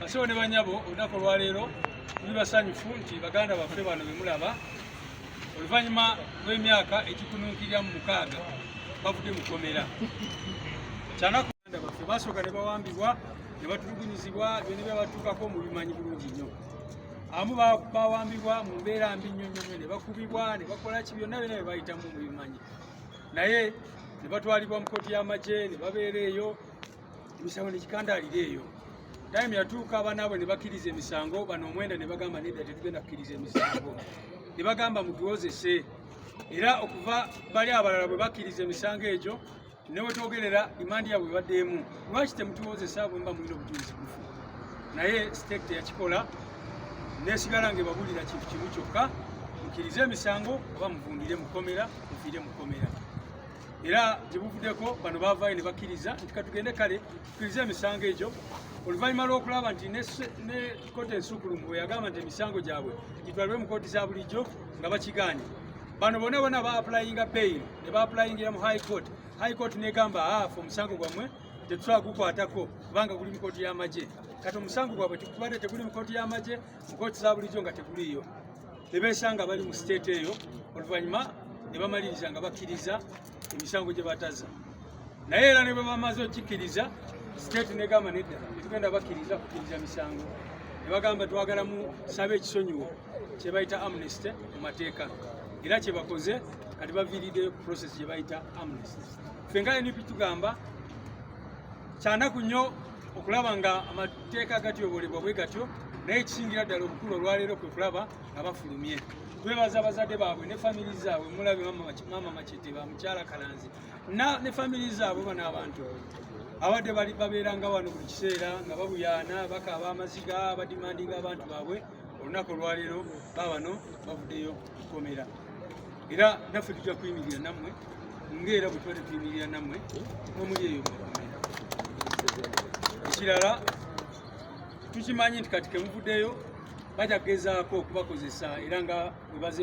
Basebo ne banyabo olunaku olwaleero tuli basanyufu nti baganda baffe bano bemulaba oluvannyuma lw'emyaka egikununkirira mu mukaaga bavudde mu kkomera kyanaku baganda baffe basooka ne bawambibwa ne batulugunyizibwa byonna byabatuukako mu bimanyi bulungi nnyo amu bawambibwa mu mbeera mbi nnyo nnyo nnyo ne bakubibwa ne bakola ki byonna byonna bye bayitamu mu bimanyi naye ne batwalibwa mu kkooti y'amagye ne babeera eyo emisango nekikandaalira eyo time yatuuka abanaabwe ne bakkiriza emisango bano omwenda ne bagamba nedda tetugenda kukkiriza emisango ne bagamba mutuwozese era okuva bali abalala bwe bakkiriza emisango egyo newetwogerera imandi yabwe ebadde emu lwaki temutuwozesa bwemba mulina obujulizi bufu naye state teyakikola nesigala nga ebabulira kintu kimu kyokka mukkirize emisango oba muvundire mukomera mufiire mukomera era gye buvuddeko bano baavaayo ne bakkiriza nti katugende kale tukkirize emisango egyo oluvannyuma lw'okulaba nti ne kooti ensuukulumu bwe yagamba nti emisango gyabwe gitwalibwe mu kooti za bulijjo nga bakigaanye bano bona bona ba apulayinga bail ne ba apulayingira mu high court high court negamba afe ah, omusango gwammwe tetusobola gukwatako kubanga guli mu kooti y'amagye kati omusango gwabwe tubadde teguli mu kooti y'amagye mu kooti za bulijjo nga teguliiyo ne beesanga bali mu siteeti eyo oluvannyuma ne bamaliriza nga bakkiriza emisango gye bataza naye era ne bwe bamaze okikkiriza siteeti negamba nedda tetugenda bakkiriza kukkiriza misango ne bagamba twagala mu saba ekisonyiwo kye bayita amnesty mu mateeka era kye bakoze kati baviiriddeyo ku process gye bayita amnesty ffe nga np tugamba kyanaku nnyo okulaba nga amateeka agatyobolebwa bwe gatyo naye ekisingira ddala obukulu olwaleero kwe kulaba nga bafulumye twebaza abazadde baabwe ne famiri zaabwe mulabe maama macete ba mukyala kalanzi ne famiri zaabwe bano abantu abadde bali babeeranga wano buli kiseera nga babuyaana bakaaba amaziga badimandinga abantu baabwe olunaku olwaleero babano bavuddeyo kukomera era naffe tujja kuyimirira nammwe ng'era bwe tubadde tuyimirira nammwe omuli eyo mukomera ekirala tukimanyi nti kati kemuvuddeyo bajja kugezaako okubakozesa era nga webaze